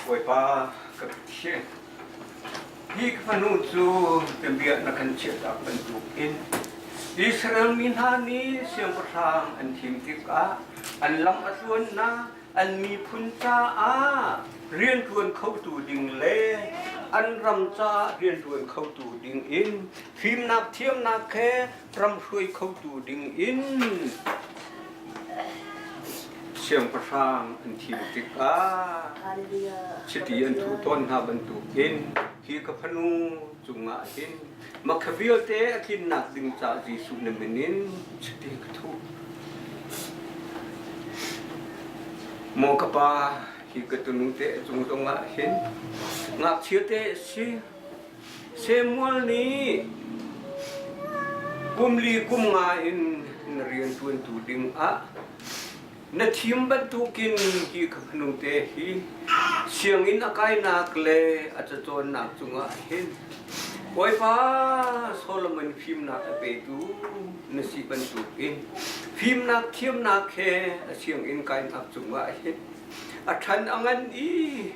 Bawipa ka thian, hi ka fanu cu biabia na kan chiahtak bantuk in Israel mi hna nih siangpahrang an thim tikah an lam a tluannak an miphun caah rian ṭuan khotu ding le an ram caah rian ṭuan khotu ding in fimnak thiamnak he ram hruai khotu ding in siangpahrang an thim tikah chiti an thuh tawn hna bantuk in hi ka fanu cungah hin makha vialte a tlinnak ding ca Jesuh na min in chiti ka thuh maw ka pa hi ka tunu te cung zongah hin ngakchia te si Samuel nih kum li kum nga in na rianṭuantu dingah na thim bantukin ki kha hmanungte hi sianginn a kainak le a cacawnnak cungah hin Bawipa Solomon fimnak a petu na si bantukin fimnak thiamnak he a sianginn kainak cungah hin a than a ngan i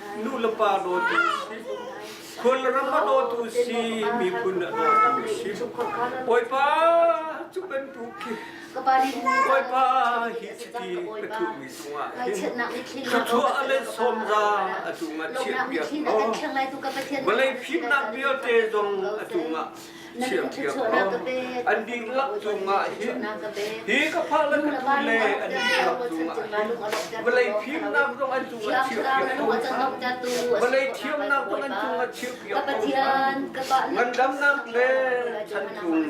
Nulepa dawtu si, khulram a dawtu si, miphun a dawtu si. Bawipa, cu bantuk khi Bawipa hi chiti ka thuhmi cungah hin thluachuah a let sawmza a cungah chiat piak. Vawlei fimnak vialte zong a cungah thiamthiam an dihlak cungah hin hi ka phahlan tu le an dihlak cungah hin vawlei fimnak zong an cungah chiahpiak ko sa vawlei thiamnak zong an cungah chiahpiak ko sa ngandamnak le chan cung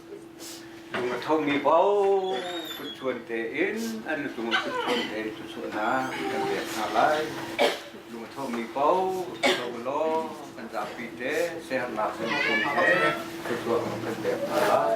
Lung a thomi paoh kutchuan tein an lung a kutchuan tein thluachuahnak kan pek hna lai. Lung a thomi paoh tho law kan zapi te sehernak kan pom te thluachuah kan pek hna lai.